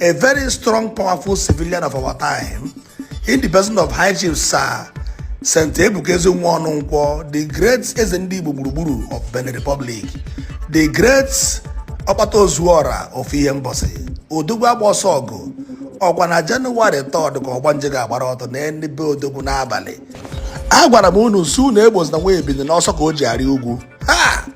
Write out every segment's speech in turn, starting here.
A very strong, powerful civilian of our time, in the person of High Chief Sir St. Ebuka Ezinwa Ọnụnkwọ, the great Eze Ndị Igbo Gburugburu of Benin Republic, the great Ọkpata Ozuọra of Ihembosi, Odogwu Agba Ọsọ Ọgụ, ọkwa na Jenụwarị 3rd ka ọgbanje ga-agbara ọtọ n'ebe be Odogwu n'abalị. Agwara m unu sị unu egbozina nwa ebili n'ọsọ ka o ji arị ugwu. Ha!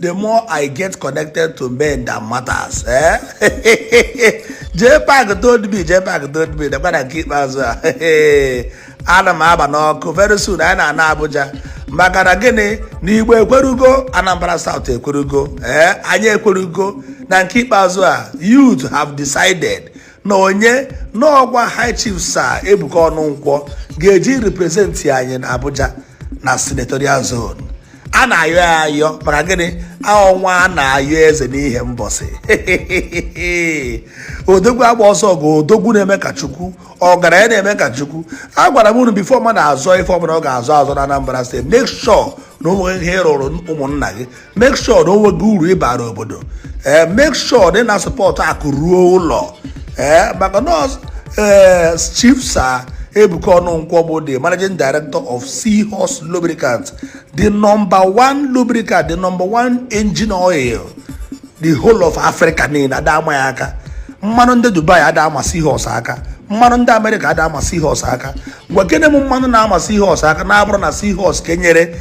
the more i get connected to men that matters eh? jee pak told me jee pak told me nakwa na nke ikpeazụ a ana m aba n'ọkụ very soon anyị na-ana abuja maka na gịnị na igbo ekwerugo anambra south ekwerugo ee eh? anyị ekwerugo na nke ikpeazụ a youth have decided na onye n'ọgwa high chief sa Ebuka Ọnụnkwọ ga-eje represent anyị na abuja na senatorial zone a na-ayọ ya ayọ maka gịnị ọnwa a na-ayọ eze n'Ihembosi odogwu agba ọsọ ọgụ odogwu na-eme ka chukwu ọgaranya na-eme ka chukwu agwara m unu before mmadụ azọ ife ọbụla ọ ga-azọ azọ na Anambra State make sure na o nwe ihe ị rụrụ ụmụnna gị make sure na o nwere uru ị bara obodo ee eh, make sure na ị na-asupport akụ ruo ụlọ ee eh, maka na ọ bụ ee eh, chief sa Ebuka Ọnụnkwọ bụ the managing director of Seahorse Lubricant the number one lubricant the number one engine oil the whole of Africa niile ada ama ya aka mmanụ ndị Dubai ada ama Seahorse aka mmanụ ndị Amerịka ada ama Seahorse aka gwakene m mmanụ na-ama Seahorse aka na-abụrụ na Seahorse ka e nyere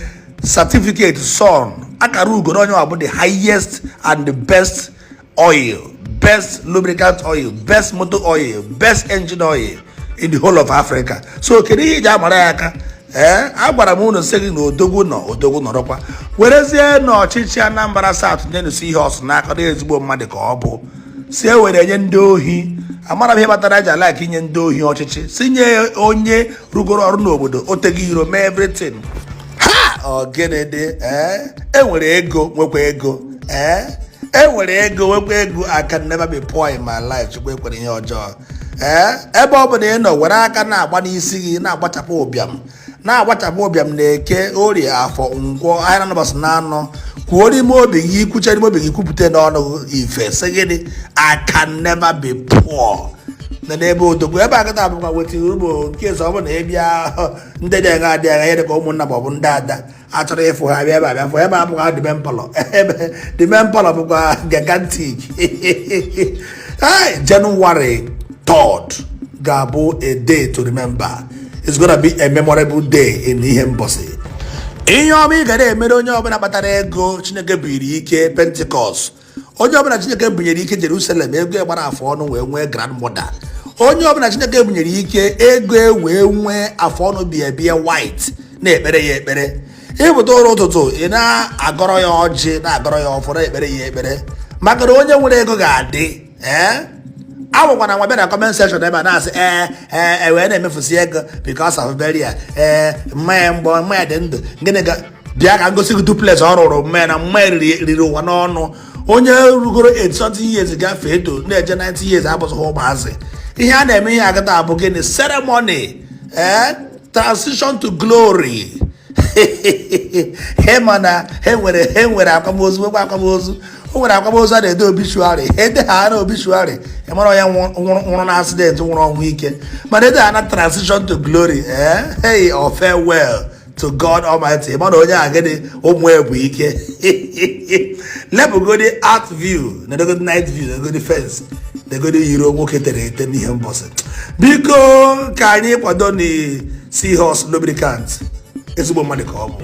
certificate SON akara ugo na onye a bụ the highest and the best oil best lubricant oil best motor oil best engine oil in the whole of africa so kedu ihe ị ji amara ya aka ee agwara m unu sị gị na odogwu nọ odogwu nọrọkwa werezienụ ọchịchị anambra south nyenụ Seahorse n'aka na ezigbo mmadụ ka ọ bụ sị e were nye ndị ohi amara m ihe kpatara e ji alike inye ndị ohi ọchịchị sị nye onye rụgoro ọrụ n'obodo oteghị iro mee everything ha ọ gịnị dị ee eh? enwere ego nwekwa ego ee eh? enwere ego nwekwa ego I can never be poor in my life chukwu ekwere ihe ọjọọ ee eh? ebe ọ bụla ị nọ were aka na-agba n'isi gị na-agbachapụ ụbịam na-agbachapụ ụbịam na Eke Orie Afọ Nkwọ ahịa naanọ ụbọsị naanọ kwuo n'ime obi gị i kwucha n'ime obi gị kwupụta n'ọnụ ife sị gịnị I can never be poor na na be odogwu ebe a kịta bụkwa wetiri ugbo nke ọzọ ọ bụ na ị bịa ndị dị agha adị agha ịdị ka ụmụnna ma ọ bụ ndị ada achọrọ ịfụ ha bịa ebe a bịa fụ ebe a bụkwa dịbe mpalọ ebe dịbe mpalọ bụkwa gigantic Hey, January 3rd ga-abụ a day to remember it's gonna be a memorable day in Ihembosi ihe ọma ị ga na-emere onye ọbụla kpatara ego chineke buru ike Pentecost onye ọbụla chineke bunyere ike jerusalem ego gbara afọ ọnụ wee nwee grand model onye ọbụla chineke bunyere ike ego e wee nwee afọ ọnụ biabia white na-ekpere ya ekpere ị pụta ụra ụtụtụ ị na-agọrọ ya ọjị na-agọrọ ya ọfọ na-ekpere ya ekpere maka na onye nwere ego ga-adị ee eh? awụkwana nwa bịa na comment section ebe a na-asị ee eh, ee eh, wee na-emefusi ego because of burial ee mama ya mgbe mama ya dị ndụ gịnị ga bịa ka ngosi gị duplex ọ rụrụ mama ya na mama ya riri ụwa n'ọnụ onye rugoro 80 years gafee eto na-eje 90 years abụzịghị ụmụazị ihe a na-eme ihe agata abụ gịnị ceremony ee eh? transition to glory ị ma na e nwere e nwere akwamozu nwekwa akwamozu o nwere akwamozu a na-ede obituary ede ha na obituary ị mara onye nwụrụ na accident nwụrụ ọnwụ ike mana ede ha na transition to glory ee eh? hey or farewell to God Almighty mana onye a gịnị ụmụ bụ ike lepụgodi art view negodi night view negodi fence negodi yiri nwoke tere ete n'ihe mbọsị biko ka anyị kwadonụ Seahorse Lubricant ezigbo mmadụ ka ọ bụ